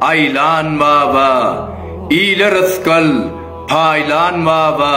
Aýlan baba, ile rysgal paýlan baba,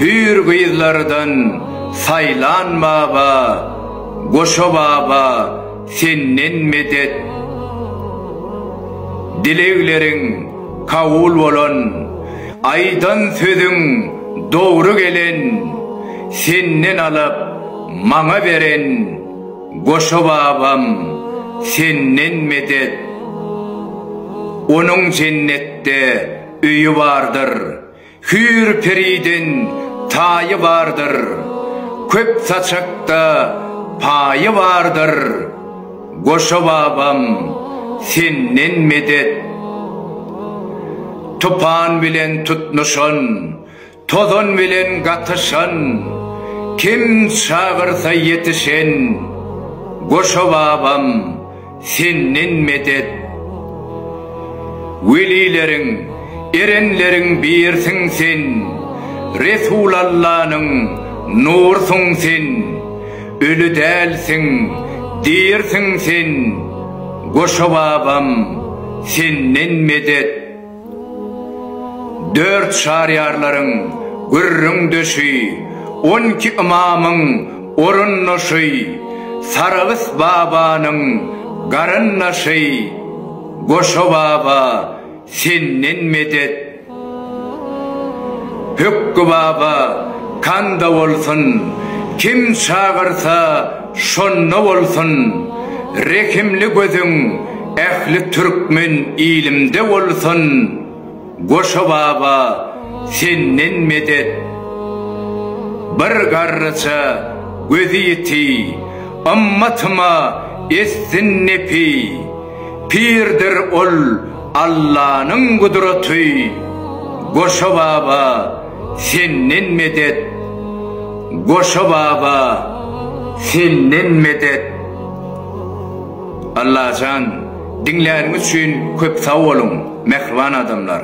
Hüýr gyzlardan saýlan baba, Goşa baba, senden medet. Dilegleriň kabul bolan, Aýdan sözüň dogry gelen, Senden alyp, maňa beren. Goşa babam senden medet. Onuň jennetde öýi bardyr, hüýr periden taýy bardyr, köp saçakda paýy bardyr, Goşa babam senden medet. Tupan bilen tutnuşan, Tozan bilen gatyşan, Kim çagyrsa ýetişen, Goşa babam, senden medet. Welileriň, erenleriň birsiň sen, Resulallanyň nursuň sen, Öli dälsiň, dirsiň sen, Goşa babam, senden medet. Dört Şaryýarlaryň gürrüň döşi, on iki ymamyň orundaşy, Saragys babanyň garyndaşy, Goşa baba, senden medet! Pökgi baba, kanda bolsun, kim çagyrsa, Şonda bolsun rehimli gözüň ähli türkmen ilimde bolsun Goşa baba senden medet Bir garryja gözi ýiti ymmatyma etsin nepi Pirdir ol Allanyň gudraty Goşa baba Senden medet, Goşa baba, senden medet. Allajan diňläniňiz üçin köp sag boluň mähriban adamlar.